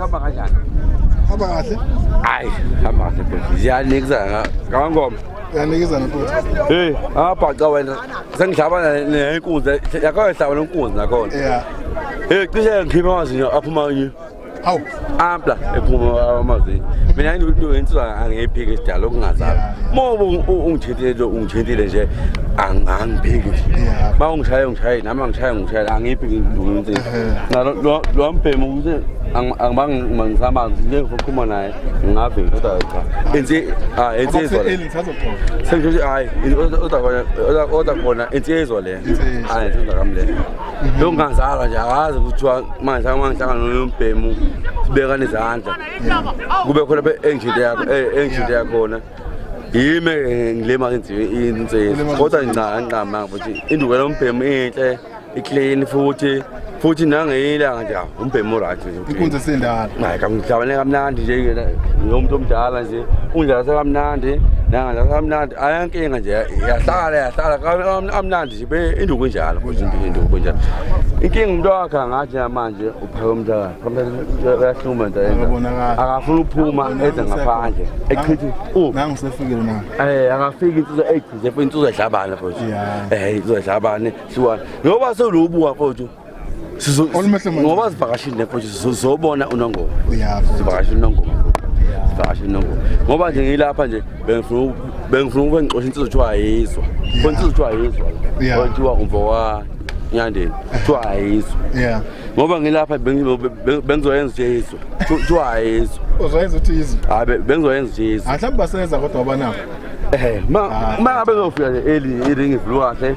hamba kanjani? Hamba kahle. Hayi, hamba kahle bhuti. Ziyanikizana ngangoma. Ziyanikizana bhuti. Hey, abhaca wena. Sengihlaba nenkunzi. Yakho ehlaba nenkunzi nakhona. Yeah. Hey, cishe ngikhipha amazinyo aphuma yini? Awu ampla ephuma amazinyo. Mina into yenziwa angiyiphiki isidala okungazali. Moba ungithintile ungithintile nje angiphiki. Ba ungishaye ungishaye nami angishaye ungishaye angiphiki into. Na lo lo mbhemu ukuthi angibanga mangisamanzi nje ngizokhuluma naye ngave kodwa cha. Enzi ah enzi izwa. Sengithi hayi kodwa kodwa kodwa khona enzi izwa le. Hayi enzi ngakamle. Lo ngangizalwa nje akazi kuthiwa manje amangihlangano yombhemu sibekana izandla. Kube khona be engine yakho eh engine yakhona. Yime ngilema ngiziwe insezi. Kodwa ngincane nqama ukuthi induku lombhemu inhle, iclean futhi futhi nangeyilanga nje. umbhemu right nje inkunzi sendala hayi kamdlabane kamnandi nje yena umuntu omdala nje undlala sekamnandi nanga ndlala kamnandi ayankinga nje yahlala yahlala kamnandi nje induku njalo induku kunjalo inkinga umuntu wakhe angathi namanje uphaka umntaka uyahluma nje akafuni ukuphuma eze ngaphandle echithi nangu sefikile na eh akafiki insizwa echithi insizwa edlabana futhi eh insizwa edlabane siwa ngoba sewulubuka futhi ngoba zivakashile nefo sizobona unongoma zivakashile unongoma zivakashile unongoma ngoba nje ngiyilapha nje bengifuna bengifuna ukube ngixosha insizwa kuthiwa ayizwa khona insizwa kuthiwa ayizwa kuthiwa umfo wa nyandeni kuthiwa ayizwa ngoba ngilapha bengizoyenza nje izwa kuthiwa ayizwa uzoyenza ukuthi izwa hayi bengizoyenza nje izwa mhlawumbe baseza kodwa abanabo eh ma ah. ma abezofika nje eli iringi vlue kahle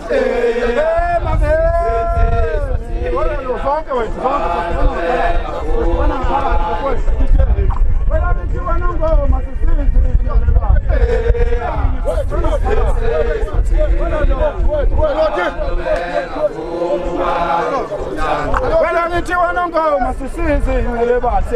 Wena ngithi wena ngoma sisizi ngale basi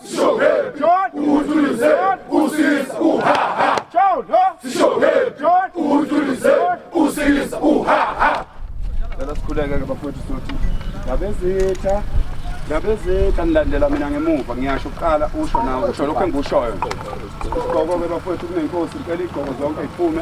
Ngabezitha ngabezitha nilandela mina ngemuva ngiyasho kuqala usho nawe usho lokho engikushoyo. Isigqoko-ke bafowethu kunenkosi icela iy'gqoko zonke iphume.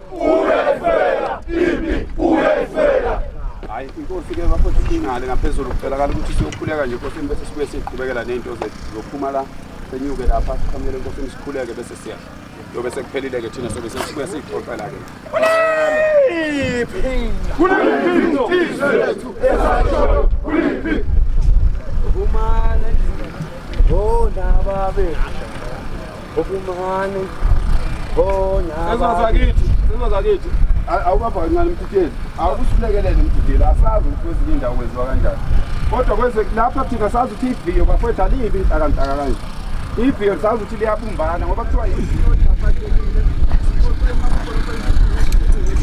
Uyayifela impi, uyayifela. Hayi inkosi ke bafo singale ngaphezulu kucelakala ukuthi siyokhuleka nje inkosi bese sibuye siqhubekela nezinto zethu zokuphuma la senyuke lapha sikhanyele inkosi sikhuleke bese siya. Yobe sekuphelile ke thina sobe sesibuye sixoxela ke. Kuliphi? Kuliphi? Izethu esasho kuliphi? Uma nendaba. Oh, ndaba be. Okumani. Bona. Sezwa zakithi, sezwa zakithi. Awubapha kancane mthitheli. Awusilekelele mthitheli. Asazi ukuthi kwezinye indawo kwenziwa kanjani. Kodwa kweze lapha thina sazi ukuthi iviyo bafethu alibi inhlakantaka kanje. Iviyo sazi ukuthi liyabumbana ngoba kuthiwa iviyo liyafakelile.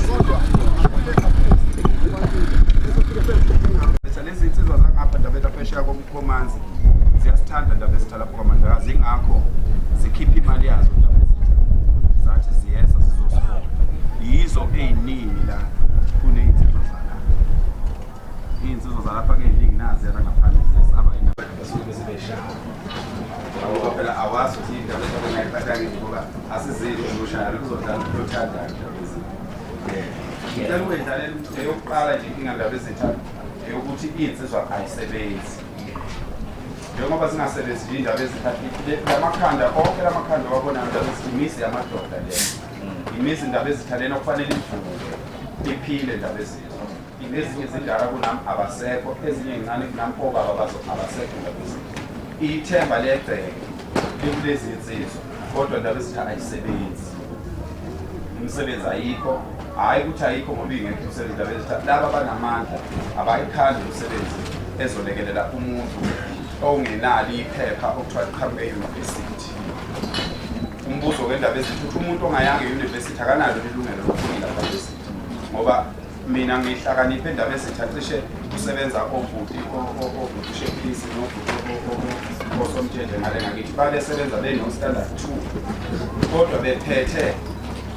Kodwa lezi nsizwa zangapha ndabetha phesheya Komanzi ziyasithanda ndaba ezitha lapho kwaMandlakazi ingakho zikhipha imali yazo ndaba ezitha zathi ziyeza zizosifona yizo ey'ningi la kuney'nsizwa zala iy'nsizwa zalapha key'ningi naziyana ngaphandle ziyesaba basuke besibeshaya ngoba phela awazi ukuthi indaba engayiphatha ngithi ngoba asizile uzoshaya luzodlala uthothandayo ndaba ezitha ngicela ukuyidlalela eyokuqala nje inkinga ndaba ezitha eyokuthi iy'nsizwa ayisebenzi njengoba zingasebenzi nje iy'ndaba ezithathile lamakhanda onke lamakhanda owabonayo ndaba ezithi imizi yamadoda le imizi indaba ezithalena okufanele ivuke iphile ndaba ezizwa ezinye izindala kunami abasekho ezinye ncane kunami obaba bazo abasekho ndaba ezizwa ithemba legceke likulezi nsizwa kodwa indaba esitha ayisebenzi imisebenzi ayikho hhayi ukuthi ayikho ngoba ingekho umsebenzi indaba esitha laba banamandla abayikhandi umsebenzi ezolekelela umuntu ongenalo iphepha okuthiwa liqhamuke eyunivesithi umbuzo wendaba ezithi ukuthi umuntu ongayanga eyunivesithi akanalo ilungelo lokufunda ndaba ezithi ngoba mina ngihlakaniphe endaba ezitha cishe kusebenza obhuti obhutishephisi osomthethe ngale ngakithi babesebenza beno-standard two kodwa bephethe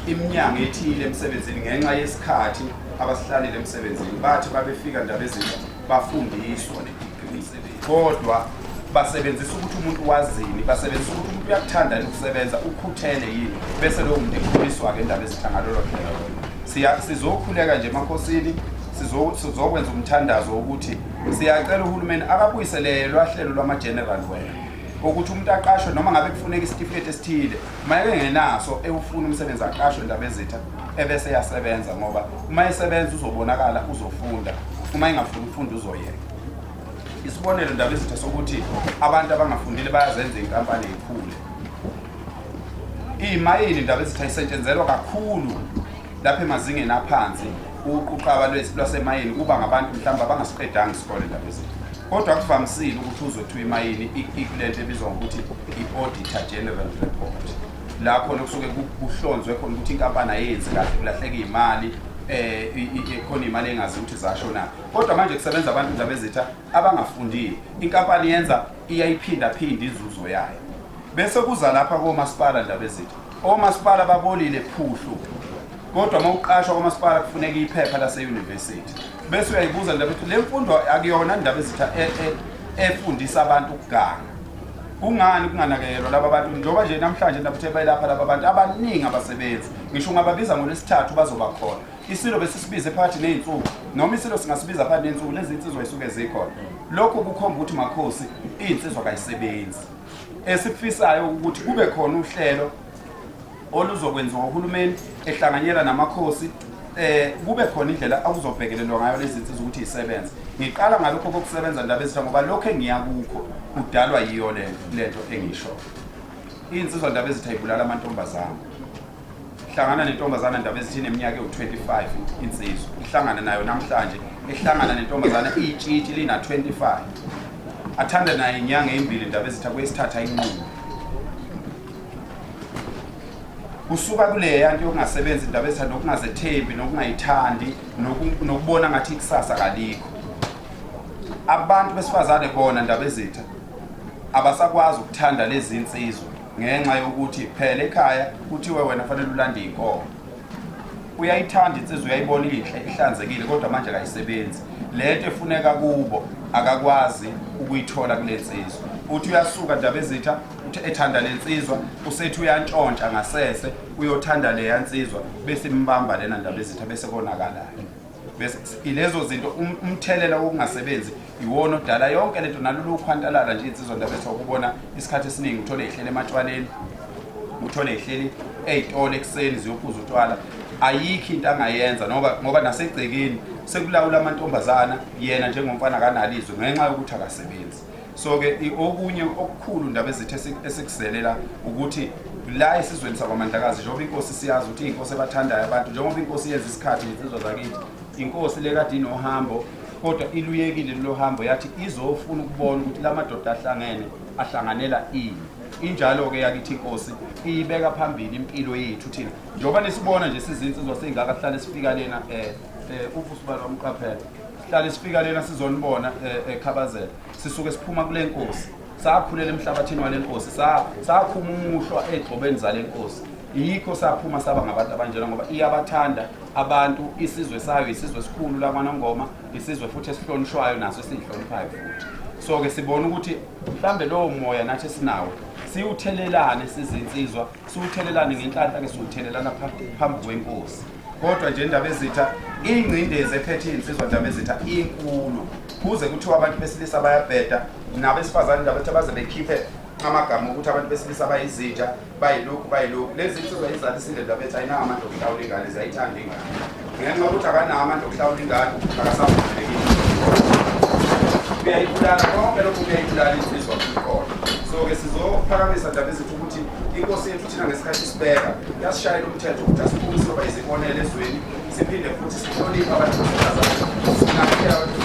iminyango ethile emsebenzini ngenxa yesikhathi abasihlalile emsebenzini bathi babefika ndaba ezinto bafundiswa kodwa basebenzisa ukuthi umuntu wazini basebenzisa ukuthi umuntu uyakuthanda yini ukusebenza ukhuthele yini bese lowo muntu ekhuliswa-ke endaba ezihlangalolo phela sizokhuleka nje emakhosini sizokwenza umthandazo wokuthi siyacela uhulumeni akabuyisele lwahlelo lwama-general wena ukuthi umuntu aqashwe noma ngabe kufuneka isitifiketi esithile uma engenaso ewufuna umsebenzi aqashwe ndaba ezitha ebese eyasebenza ngoba uma esebenza uzobonakala uzofunda uma engafuni ukufunda uzoyeka Isibonelo ndaba izitha sokuthi abantu abangafundile bayazenza inkampani ekhule. Imayini ndaba izitha isetshenzelwa kakhulu lapha emazingeni aphansi ukuquqaba lwasemayini kuba ngabantu mhlawumbe abangasiqedanga isikole ndaba izitha. Kodwa kuvamisile ukuthi uzothiwa imayini ikulento ebizwa ngokuthi i-auditor general report lapho nokusuke kuhlonzwe khona ukuthi inkampani ayenzi kahle kulahleka imali eh khona imali engazi ukuthi zashona kodwa manje kusebenza abantu indaba ezitha abangafundile inkampani yenza iyayiphindaphinde inzuzo yayo bese kuza lapha komasipala ndaba ezitha omasipala babolile phuhlu kodwa uma uqashwa komasipala kufuneka iphepha laseyunivesithi bese uyayibuza ndaba ukuthi le mfundo akuyona ndaba ezitha e, e, efundisa abantu ukuganga kungani kunganakekelwa laba bantu njengoba nje namhlanje ndabuthe bayelapha laba bantu abaningi abasebenzi ngisho ungababiza ngolwesithathu bazoba khona isilo besisibize phakathi ney'nsuku noma isilo singasibiza phakathi ney'nsuku lezi nsizwa yisuke zikhona lokhu kukhomba ukuthi makhosi iy'nsizwa kayisebenzi esikufisayo ukuthi kube khona uhlelo oluzokwenziwa uhulumeni ehlanganyela namakhosi eh kube khona indlela akuzobhekelelwa ngayo lezi nsizwa ukuthi isebenze ngiqala ngalokho kokusebenza ndaba ezitha ngoba lokho engiya kukho kudalwa yiyo le lento engisho iy'nsizwa ndaba ezitha ibulala amantombazane hlangana nentombazana ndaba ezithini eminyaka ewu-25 insizwa ihlangana nayo namhlanje ihlangana nentombazana iyitshitshi lina-25 athanda naye inyanga eyimbili ndaba ezitha kwesithatha inqubo kusuka kuleya nto yokungasebenzi indaba ezitha nokungazethembi nokungayithandi nokubona ngathi ikusasa kalikho abantu besifazane bona ndaba ezitha abasakwazi ukuthanda lezi nsizwa ngenxa yokuthi phela ekhaya kuthiwe wena fanele ulande iy'nkomo uyayithanda insizwa uyayibona inhle ihlanzekile kodwa manje kayisebenzi lento efuneka kubo akakwazi ukuyithola kule nsizwa uthi uyasuka ndaba ezitha uthi ethanda le nsizwa usethi uyantshontsha ngasese uyothanda leya nsizwa bese imbamba lena ndaba ezitha bese konakalayo ilezo zinto um, umthelela wokungasebenzi iwona odala yonke lento nalolu ukhwantalala nje insizwa ndaba ethiwa kubona isikhathi esiningi uthole ihlele ematshwaleni uthole ihleli ey'tolo ekuseni ziyophuza utshwala ayikho into angayenza ngoba ngoba nasegcekeni sekulawula amantombazana yena njengomfana kanalizwe ngenxa yokuthi akasebenzi so ke okunye okukhulu ndaba ezithe esikuzelela ukuthi la esizweni sakwamandlakazi njengoba inkosi siyazi ukuthi inkosi ebathandayo abantu njengoba inkosi yenza isikhathi nensizwa zakithi inkosi le kade inohambo kodwa iluyekile lo hambo yathi izofuna ukubona ukuthi la madoda ahlangene ahlanganela ini injalo-ke yakithi inkosi iyibeka phambili impilo yethu thina njengoba nisibona nje sizinsizwa seyingaka sihlale sifika lena um um uvusi balo wamqaphela hlale sifika lena sizonibona eh, ekhabazela sisuke siphuma kule nkosi sakhulela emhlabathini wale nkosi sakhuma umuhlwa egxobeni zale nkosi yikho saphuma saba ngabantu abanjena ngoba iyabathanda abantu isizwe sayo isizwe esikhulu lakwanongoma isizwe futhi esihlonishwayo naso esiyihloniphayo futhi so-ke sibona ukuthi mhlawumbe lowo moya nathi esinawo siwuthelelane sizinsizwa siwuthelelane ngenhlanhla ke siwuthelelana phambi kwenkosi kodwa nje indaba ezitha ingcindezi ephethe iy'nsizwa ndaba ezitha inkulu kuze kuthiwa abantu besilisa bayabheda nabesifazane ndaba ethi baze bekhiphe amagama okuthi abantu besilisa bayizitsha bayilokhu bayilokhu lezi nsizwa izalisile ndaba ethi ayinawo amadokotawula ingane ziyayithanda ingane ngenxa yokuthi akanawo amandla okuhlawula ingane akasavumelekile uyayibulala konke lokhu kuyayibulala insizwa kuqola so-ke sizophakamisa ndaba ezithi ukuthi inkosi yethu thina ngesikhathi isibeka yasishayela umthetho ukuthi asiphume siyoba izibonele ezweni siphinde futhi sihloniphe abantu besifazane sinakhe abantu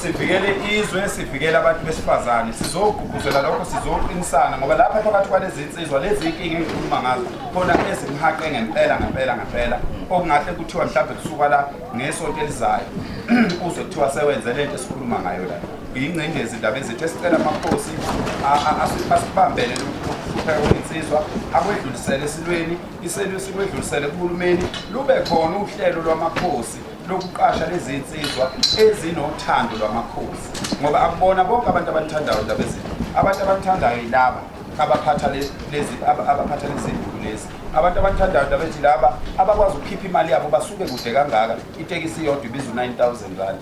sivikele izwe sivikele abantu besifazane sizoku Kuzwela lokho sizoqinisana ngoba lapha phakathi kwalezi nsizwa lezi inkinga engikhuluma ngazo khona ezimhaqe ngempela ngempela ngempela okungahle kuthiwa mhlawumbe kusuka la ngesonto elizayo uzwe kuthiwa sewenze le nto esikhuluma ngayo la yingcindezi indaba ezithi esicela amakhosi asibambele lokuhlupheka kwensizwa akwedlulisele esilweni iselwe sikwedlulisele kuhulumeni lube khona uhlelo lwamakhosi lokuqasha lezinsizwa ezinothando lwamakhosi ngoba akubona bonke abantu abalithandayo ndaba ezinto abantu abalithandayo yilaba abaphatha lezi abaphatha lezi lezi abantu abalithandayo ndaba ethi laba abakwazi ukukhipha imali yabo basuke kude kangaka itekisi iyodwa ibiza u-9000 rand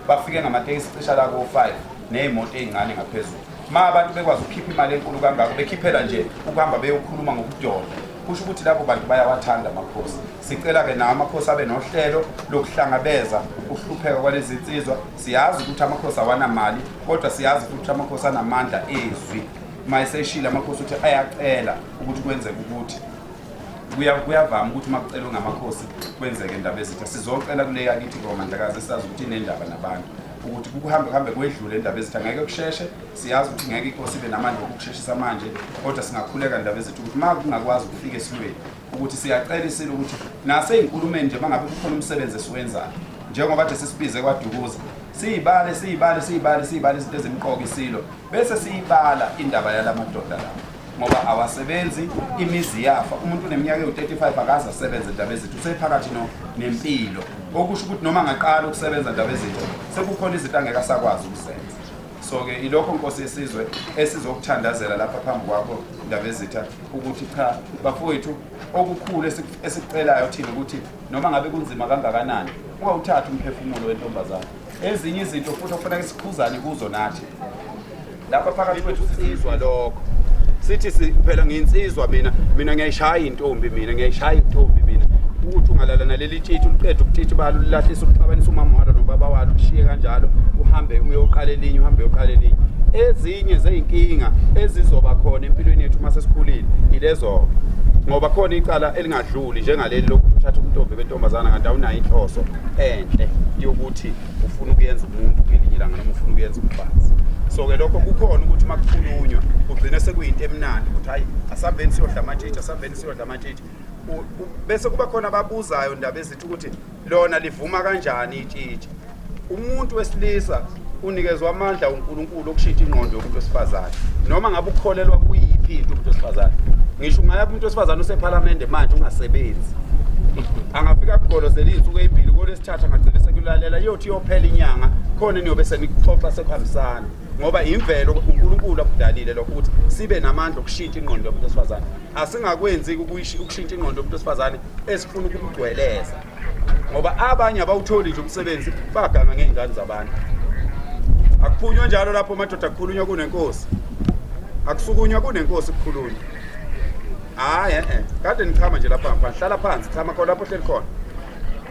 bafike ngamatekisi cisha la ko-5 ney'moto ey'ncane ngaphezulu ma abantu bekwazi ukukhipha imali enkulu kangako bekhiphela nje ukuhamba beyokhuluma ngokudoda kusho ukuthi labo bantu bayawathanda amakhosi Sicela ke nawo amakhosi abe nohlelo lokuhlangabeza ukuhlupheka kwalezi nsizwa. Siyazi ukuthi amakhosi awanamali kodwa siyazi futhi ukuthi amakhosi anamandla ezwi. Uma eseshile amakhosi ukuthi ayacela ukuthi kwenzeke ukuthi kuya- kuyavama ukuthi uma kucelwe ngamakhosi kwenzeke indaba ezitha. Sizocela kule yakithi ngoMandlakazi esazi ukuthi inendaba nabantu ukuthi kuhambe kuhambe kwedlule indaba ezitha ngeke kusheshe siyazi ukuthi ngeke inkosi ibe namandla okukusheshisa manje kodwa singakhuleka indaba ezitha ukuthi uma kungakwazi ukufika esilweni ukuthi siyacela isilo ukuthi nasey'nkulumeni nje mangabe kukhona umsebenzi esiwenzayo njengoba nje sisibize kwadukuza siyibale siyibale siyibale siyibale izinto ezimqoka isilo bese siyibala indaba yala madoda lawo ngoba awasebenzi imizi yafa umuntu uneminyaka ewu-35 akaze asebenze ndaba ezinto usephakathi nempilo okusho ukuthi noma angaqala ukusebenza ndaba ezinto sekukhona izinto angeke asakwazi ukuzenza so-ke ilokho nkosi yesizwe esizokuthandazela lapha phambi kwakho ndabezitha ukuthi cha bafowethu okukhulu esikucelayo thina ukuthi noma ngabe kunzima kangakanani ungawuthathi umphefumulo wentombazane ezinye izinto futhi okufaneke sikhuzane kuzo nathi lapha phakathi kwethu sizizwa lokho sithi phela nginsizwa mina mina ngiyayishaya intombi mina ngiyayishaya intombi mina ukuthi ungalalana lithitha uliqeda ukuthitha ubala ulilahlisa ukuxabanisa umama walo nobaba walo ushiye kanjalo uhambe uyoqala elinye uhambe uyoqala elinye ezinye zeyinkinga ezizoba khona empilweni yethu uma sesikhulile yilezo-ke ngoba khona icala elingadluli njengaleli lokuthi uthatha ubuntombi bentombazana kanti awunayo inhloso enhle yokuthi ufuna ukuyenza umuntu ngelinye ilanga noma ufuna ukuyenza umfazi so-ke lokho kukhona ukuthi uma kukhulunywa kugcine sekuyinto emnandi ukuthi hhayi asambeni siyodla amatshitshi asambeni siyodla amatshitshi bese kuba khona ababuzayo ndaba ezithi ukuthi lona livuma kanjani itshitshi umuntu wesilisa unikezwa amandla uNkulunkulu okushintsha ingqondo yomuntu wesifazane noma ngabe ukukholelwa kuyiphi into umuntu wesifazane ngisho ungaya kumuntu wesifazane usephalamende manje ungasebenzi angafika kugolozela izinsuku ezimbili kolesithatha ngagcina sekulalela iyothi iyophela inyanga khona niyobe senikuxoxa sekuhambisana ngoba imvelo uNkulunkulu akudalile lokho ukuthi sibe namandla okushintsha ingqondo yomuntu wesifazane asingakwenzi ukushintsha ingqondo yomuntu wesifazane esifuna ukumgcweleza ngoba abanye abawutholi nje umsebenzi baganga ngey'ngane zabantu akuphunywa njalo lapho madoda kukhulunywa kunenkosi akusukunywa kunenkosi kukhulunywa hhayi e-e kade nichama nje lapha ngaphandle hlala phansi chama khona lapho hleli khona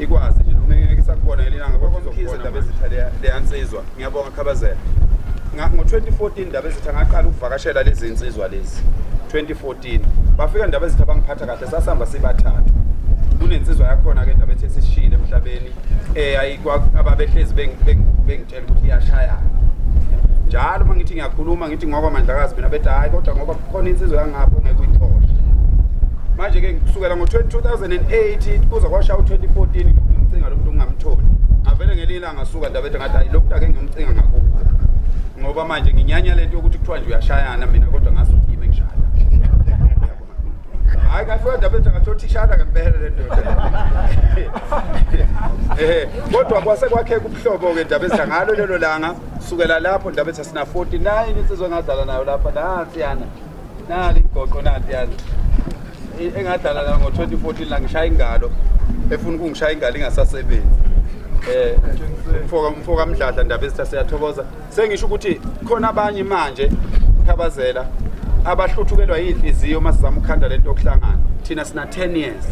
ikwazi nje noma ngeke isakubona ngelilanga kodwa uzokubona indaba ezitha leyansizwa ngiyabonga khabazela ngo-2014 indaba ezitha ngaqala ukuvakashela lezi nsizwa lezi 2014 bafika indaba ezitha bangiphatha kahle sasihamba sibathathu kunensizwa yakhona-ke indaba ethi esishile emhlabeni um ababehlezi tshela ukuthi iyashaya njalo uma ngithi ngiyakhuluma ngithi ngoba mandlakazi mina bethi hhayi kodwa ngoba kukhona insizwa yangapho ngeke uyithole manje-ke kusukela ngo-2008 kuze kwashaya u-2014 ngimcinga lo muntu ngingamtholi ngavele ngelinye ilanga suka ndabethe ngathi hayi lo muntu ake ngiyomcinga ngakubo ngoba manje nginyanya le nto yokuthi kuthiwa nje uyashayana mina kodwa ngazi ukuthi yimi engishaya hayi kafika ndaba ethi angathothishana ngempela le ndoda eh kodwa kwase kwakheka ubuhlobo ke ndaba ethi ngalo lelo langa sukela lapho ndaba ethi sina 49 insizwe ngadlala nayo lapha nansi yana nali igoqo nansi yana E- engadlala nayo ngo-2014 la ngishaya ingalo efuna ukungishaya ingalo ingasasebenzi um mfoka mdladla ndaba ethi siyathokoza sengisho ukuthi khona abanye manje khabazela abahluthukelwa yinhliziyo uma sizama ukukhanda lento yokuhlangana thina sina 10 years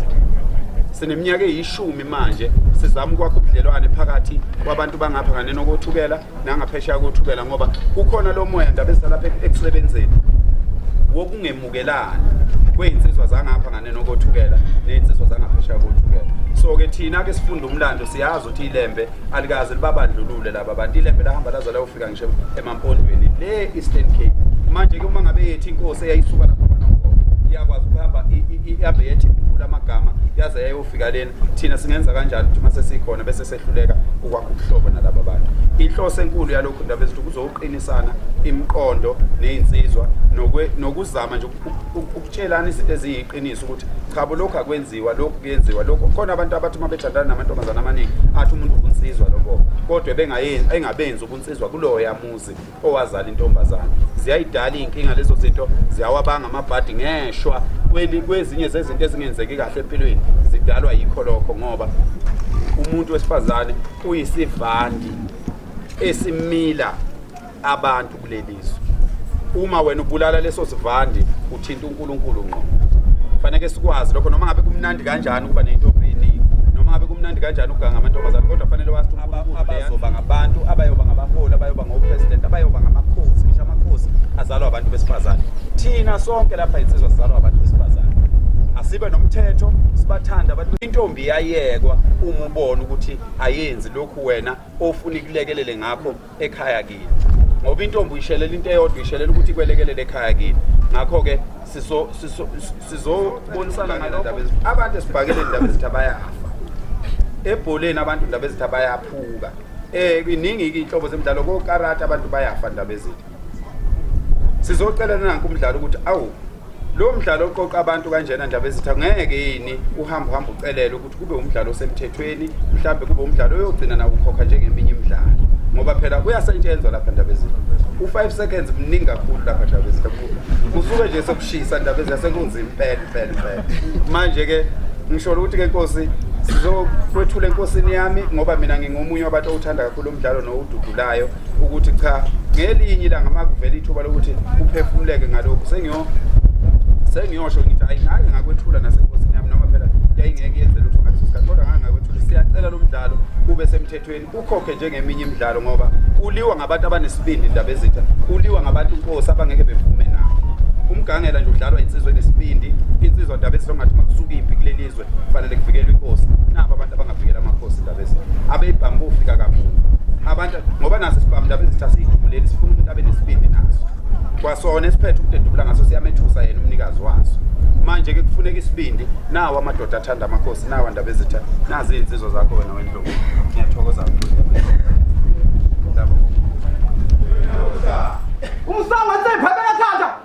sineminyaka eyishumi manje sizama ukwakha ubudlelwane phakathi kwabantu bangapha kanye nokothukela nangaphesheya kothukela ngoba kukhona lo moya ndaba ezisalapha ekusebenzeni wokungemukelani kwey'nsizwa zangapha ngane nokothukela ney'nsizwa zangaphesheya kothukela so-ke thina-ke sifunda umlando siyazi ukuthi ilembe alikaze libabandlulule laba bantu ilembe lahamba laze layofika ngisho emampondweni le Eastern Cape manje ke uma ngabe yethi inkosi eyayisuka lapha kwaNongoma iyakwazi ukuhamba ihambe yethi ikhulu amagama yaze yayofika lena thina singenza kanjani ukuthi uma sesikhona bese sehluleka ukwakha ubuhlobo nalaba bantu inhloso enkulu yalokhu ndaba ezithi kuzoqinisana imiqondo nezinsizwa nokuzama nje ukutshelana izinto eziyiqiniso ukuthi cha lokho akwenzi kwenziwa lokhu kuyenziwa lokhu khona abantu abathi uma bethandana namantombazana amaningi athi umuntu ubunsizwa lobo kodwa bengayenzi engabenzi ubunsizwa kuloya muzi owazala intombazana ziyayidala iy'nkinga lezo zinto ziyawabanga amabhadi ngeshwa kwezinye zezinto ezingenzeki kahle empilweni zidalwa yikho lokho ngoba umuntu wesifazane uyisivandi esimila abantu kulelizwe uma wena ubulala leso sivandi uthinta uNkulunkulu ngqo faneke sikwazi lokho noma ngabe kumnandi kanjani ukuba nentombi eningi noma ngabe kumnandi kanjani ukuganga amantombazane kodwa fanele wazi uNkulunkulu abazoba ngabantu abayoba ngabaholi abayoba ngopresident abayoba ngamakhosi ngisho amakhosi azalwa abantu besifazane thina sonke lapha insizwa sizalwa abantu besifazane asibe nomthetho sibathanda abantu intombi yayekwa uma ubona ukuthi ayenzi lokhu wena ofuna ikulekelele ngakho ekhaya kini ngoba intombi uyishelela into eyodwa uyishelela ukuthi ikwelekelele ekhaya kini ngakho-ke sizobonisana ngalokho abantu esibhakele ndaba ezithi abayafa ebholeni abantu ndaba ezithi abayaphuka um iningi-ke iy'nhlobo zemidlalo kokarati abantu bayafa ndaba ezithi sizocelela nanke umdlalo ukuthi awu lo mdlalo oqoqa abantu kanjena ndabezitha ngeke yini uhambe uhambe ucelele ukuthi kube umdlalo osemthethweni mhlawumbe kube umdlalo oyogcina nakukhokha njengeminye imidlalo ngoba phela uyasetshenzwa lapha ndabezitha u-five seconds mningi kakhulu lapha ndabezitha kusuke nje sokushisa ndabezitha sekunzima impela impela impela manje-ke ngisholo ukuthi-ke nkosi sizokwethula enkosini yami ngoba mina ngingomunye wabantu owuthanda kakhulu umdlalo nowududulayo ukuthi cha ngelinye ilanga makuvela ithuba lokuthi uphefumuleke ngalokhu sengiyo sengiyosho ngithi ayi ngake ngakwethula nasenkosini yami noma phela yayingeke yenze lutho ngaleso sikhathi kodwa ngake ngakwethula siyacela lo mdlalo ube semthethweni ukhokhe njengeminye imidlalo ngoba uliwa ngabantu abanesibindi indaba ezitha uliwa ngabantu inkosi abangeke bevume nabo umgangela nje udlalwa insizwe nesibindi insizwa ndaba esizongathi makusuka impi kulelizwe kufanele kuvikelwe inkosi nabo abantu abangavikela amakhosi indaba ezi abeyibhamu bofika kamuva abantu ngoba naso isibhamu indaba ezithi asiyidubuleli sifuna umuntu abe nesibindi naso kwasona esiphethe ukudedubula ngaso siyamethusa yena umnikazi waso manje ke kufuneka isibindi nawo amadoda athanda amakhosi nawo andaba ezitha nazi izinsizwa zakho wena wendlovu ngiyathokoza kakhulu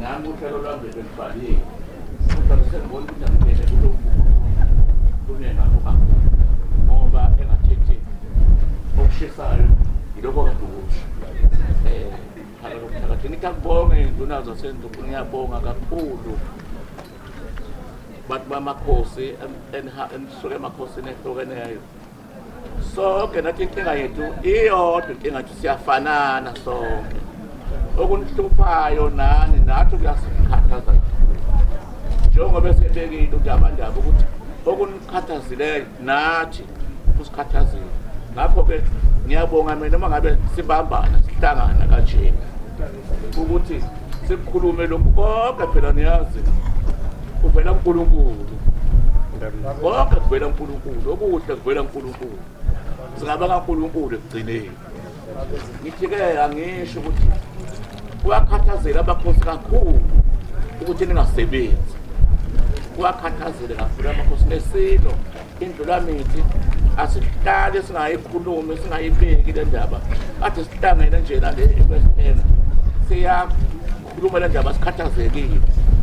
Nami uhlelo lwami beluvalile. Kodwa sengibona ukuthi angibheke kulo kunengakho kakhulu ngoba engathethi okushisayo yilokho kade ukusho um phakathi ngithi akubonge iy'nduna zasenduku ngiyabonga kakhulu bantu bamakhosi enisuke emakhosini ehlukeneyo sonke nathi inkinga yethu iyodwa inkinga nje siyafanana sonke okunihluphayo nani nathi kuyasikhathaza njengoba esebekile udabandaba ukuthi okunikhathazileyo nathi kusikhathazile ngakho-ke ngiyabonga mina uma ngabe sibambana sihlangana kanjena ukuthi sikukhulume lokhu konke phela niyazi kuvela uNkulunkulu konke kuvela uNkulunkulu okuhle kuvela uNkulunkulu singaba kaNkulunkulu ekugcineni ngithi-ke angisho ukuthi kuyakhathazela abakhosi kakhulu ukuthi ningasebenzi kuyakhathazela kakhulu amakhosi nesilo indlulamithi asihlale singayikhulumi singayibeki le ndaba kade sihlangene nje nale ekwesena siyakhuluma le ndaba sikhathazekile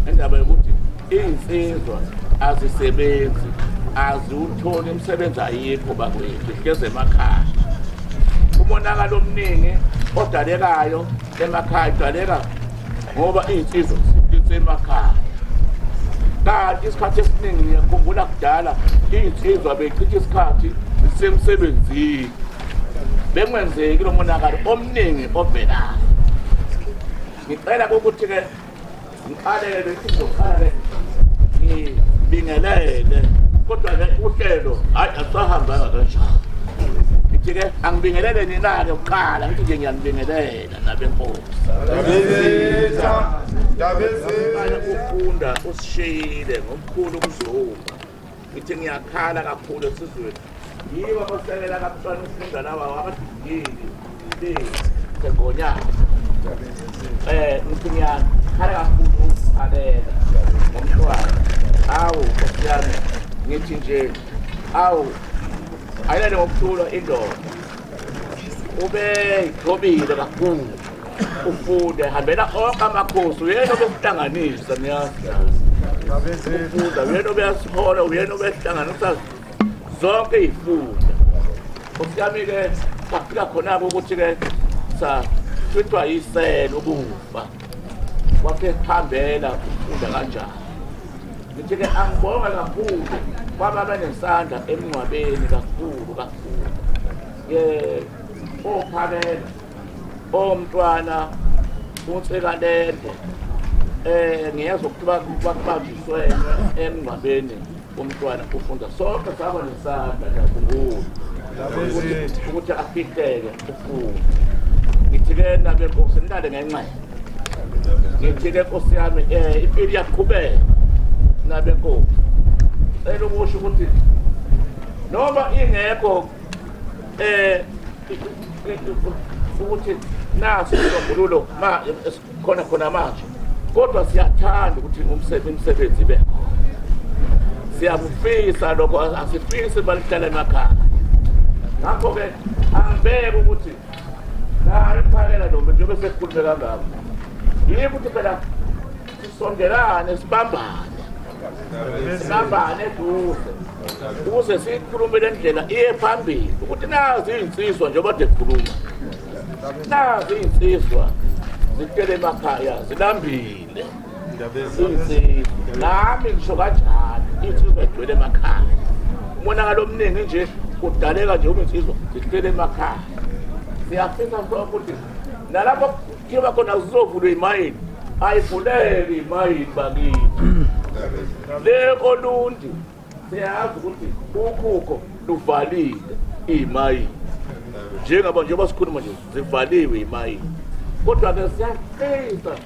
indaba yokuthi iy'nsizwa azisebenzi aziwutholi imisebenzi ayikho bakwethu hlezi emakhaya umonakalo omningi odalekayo emakhaya idaleka ngoba iy'nsizwa zisemakhaya kanti isikhathi esiningi ngiyakhumbula kudala iy'nsizwa beychitha isikhathi zisemsebenzini bengwenzeki lo monakalo omningi ovelayo ngicela kokuthi-ke ngikhalele bese ngizokhala ke ngibingelele kodwa ke uhlelo hayi asahambanga kanjalo ngithi ke angibingelele nina-ke kuqala ngithi nje ngiyanibingelela nabenkosi ufunda usishiyile ngomkhulu umzungu ngithi ngiyakhala kakhulu esizweni yibo abasekela kabuhlwana umfunda lawa wabadidili sengonyana eh ngithi ngiyakhala kakhulu ukukhalela ngomntwana awu nkosi yami ngithi nje awu ayilale ngokuthula indoda ube yigobile kakhulu ufunde hambela onke amakhosi uyena obesihlanganisa niyazi ufunda uyena obeyasihola uyena obesihlanganisa zonke iy'funda osiyami-ke safika khona-ke ukuthi-ke sathwithwa yisela ukufa kwakhe hambela ufunda kanjani ngithi-ke angibonge kakhulu kwaba benesandla emngcwabeni kakhulu kakhulu ye ophakela Oh mntwana uNsekalende eh ngiyezwa ukuthi bakubanjiswe emngcwabeni umntwana ufunda sonke saba nesandla ngiyakhumbula ukuthi afihleke ufunde ngithi-ke nabe nkosi nilale ngenxele ngithi-ke nkosi yami um eh, impilo iyaqhubeka nabe nkosi cela ukusho ukuthi noma ingekho eh ukuthi naso sombululo ma khona khona manje kodwa siyathanda ukuthi umsebenzi ibe siyakufisa lokho asifisi balihlala emakhaya ngakho-ke angibeke ukuthi nayo iphakela noma njengoba sesikhulume kangako yikho ukuthi phela Sondelane sibambane. Sibambane duze. Ukuze sikhulume le ndlela iye phambili ukuthi nazi izinsizwa njengoba dekhuluma. Nazi izinsizwa zitele emakhaya zilambile. Nami ngisho kanjalo insizwa igcwele emakhaya. Umonakalo omningi nje kudaleka nje uma insizwa zihlele emakhaya. Siyafisa ukuthi nalapho kuyoba khona kuzovulwa imayini ayivuleke imayini bakithi le olundi siyazi ukuthi ukhukho luvalile imayini njengaba njengoba sikhuluma nje zivaliwe imayini kodwa-ke siyaqinisa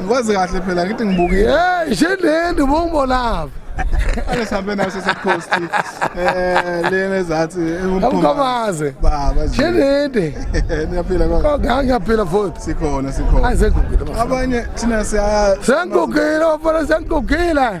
ngikwazi kahle phela ngithi ngibukile hey shendendi ubongibonaphi ake sihambe naso secoast eh lena ezathi umkhomaze baba shendendi niyaphila kodwa ngiyaphila futhi sikhona sikhona azegugile abanye thina siya sengugile bafana sengugile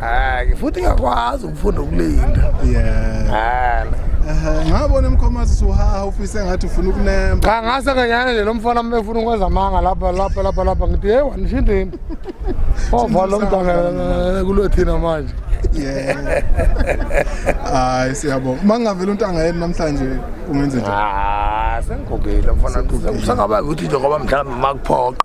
hayi futhi ngiyakwazi ukufunda ukulinda yeah hayi ngabona umkhomazi suhaha ufise ngathi ufuna ukunemba cha ngase nganyana nje lomfana uma efuna ukwenza amanga lapha lapha lapha lapha ngithi hey wanishindini ovala umntana kulo thina manje hayi siyabonga uma ngingavela untanga yeni namhlanje ungenze njani ah, sengigogile mfana usangaba ukuthi njengoba mhlawumbe uma kuphoqa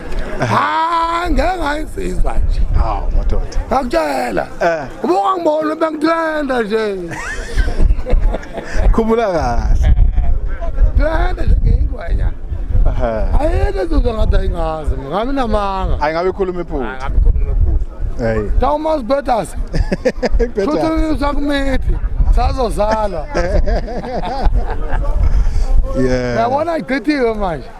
ha ngeke ngayisizwa nje hawu madoda ngakutshela eh. ubuka ngibona bengithanda nje khumula kahle thanda nje ngiyingwenya ayike zizwa ngathi ayingazi ngami namanga ayi ngabe ikhuluma iphutha ngabe ikhuluma iphutha hey tawumazi betas futhi usakumithi sazozalwa yeah yabona igqithiwe manje